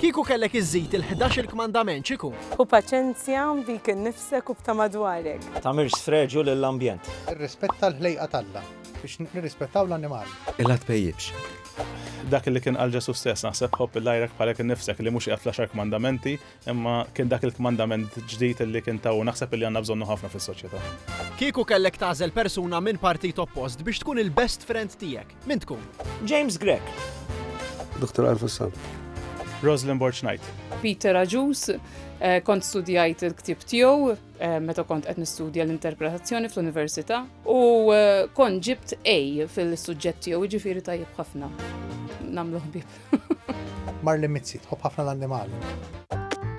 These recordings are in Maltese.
Kieku kellek iżżid il-ħdax il-kmandament x'ikun? Hu paċenzja, bik innifsek u b'ta' madwarek. Tagħmilx sfreġju lill-ambjent. Irrispetta l-ħlejqa t'Alla biex nirrispettaw l-annimali. Illa tpejjipx. Dak li kien qal Ġesù stess, naħseb, Ħobb lil għajrek bħalek innifsek, li mhux qiegħed fl-Għaxar Kmandamenti. Imma kien dak il-kmandament ġdid li kien ta' u naħseb li għandna bżonnu ħafna fis-soċjetà. Kieku kellek tagħżel persuna minn partit oppost biex tkun il-best friend tiegħek, min tkun? James Grech. Dr. Alf Assam. Roslyn Borg Knight. Peter Agius, eh, kont studjajt il-ktib tiegħu eh, meta kont qed nistudja l-interpretazzjoni fl-università u eh, kont ġibt A fil-suġġett tiegħu jiġifieri tajjeb ħafna. Namlu ħbib. Marli Mizzi tħobb ħafna l-annimali.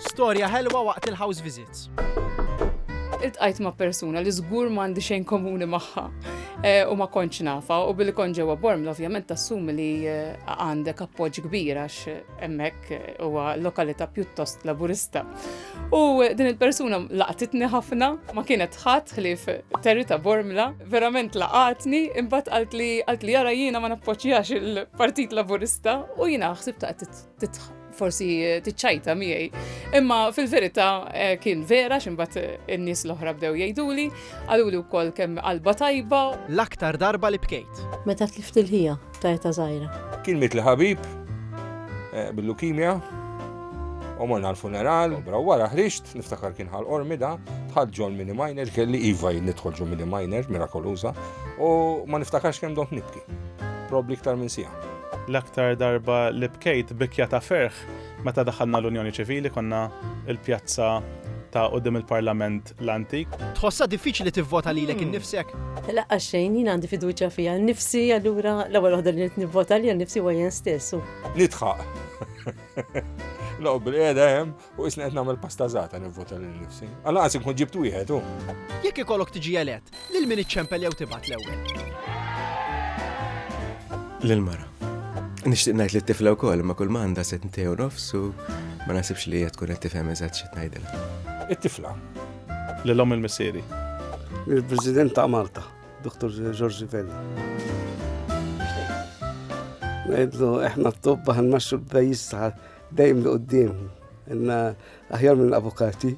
Storja ħelwa waqt il-house visits. Iltqajt ma' persuna li żgur m'għandi xejn komuni magħha eh, u ma kontx nafa u billi kon ġewwa Bormla ovvjament tassumi li eh, għandek appoġġ kbir għax hemmhekk eh, huwa lokalità pjuttost laburista. U din il-persuna laqtitni ħafna ma kienet ħadd ħlief Terry ta' Bormla, verament laqatni, imbagħad qalt li qalt li jara jiena ma nappoġġjax il-Partit Laburista u jiena ħsib ta' forsi tiċċajta miegħi. Imma fil-verità eh, kien vera x'imbagħad eh, in-nies l-oħra bdew jgħiduli, qaluli wkoll kemm qalba tajba. L-aktar darba li bkejt. Meta tlift il-ħija. ta' eta zaħira. Kien mit li ħabib eh, bil-lukimja, u morna l-funeral, bra wara ħriġt, niftakar kien ħal ormi da, tħad ġol mini minor, kelli iva nidħol ġol mini minor, mirakoluza, u ma niftakarx kem dont nibki. Probli ktar minn sija. L-aktar darba li bkejt bikja ta' ferħ meta daħalna l-Unjoni Ċivili konna il-pjazza ta' qudiem il-Parlament l-antik. Tħossha diffiċli tivvota lilek innifsek? Laqqas xejn, jien għandi fiduċja fija nnifsi, allura l-ewwel waħda li nivvota lija nnifsi huwa jien stess. Nidħaq. Loqgħod bil-qiegħda hemm u isni qed nagħmel pasta żgħata nivvota lil nifsi. Allaqas inkun ġibt wieħed hu. Jekk ikollok tiġi elett, Lil min iċċempel jew tibgħat l-ewwel? Lill-mara. Nixtieq ngħid li tifla wkoll ma kull m'għandha se tntej u nofs u ma nasibx li hija tkun qed tifhem eżatt xi tnajdilha. It-tifla. Lil omm il-missieri. Il-President ta' Malta, Dr. Giorgi Vella. Ngħidlu eħna t-tobba ħanmaxxu l-pajjiż dejjem li qudiem. Inna Aħjar mill-avukati.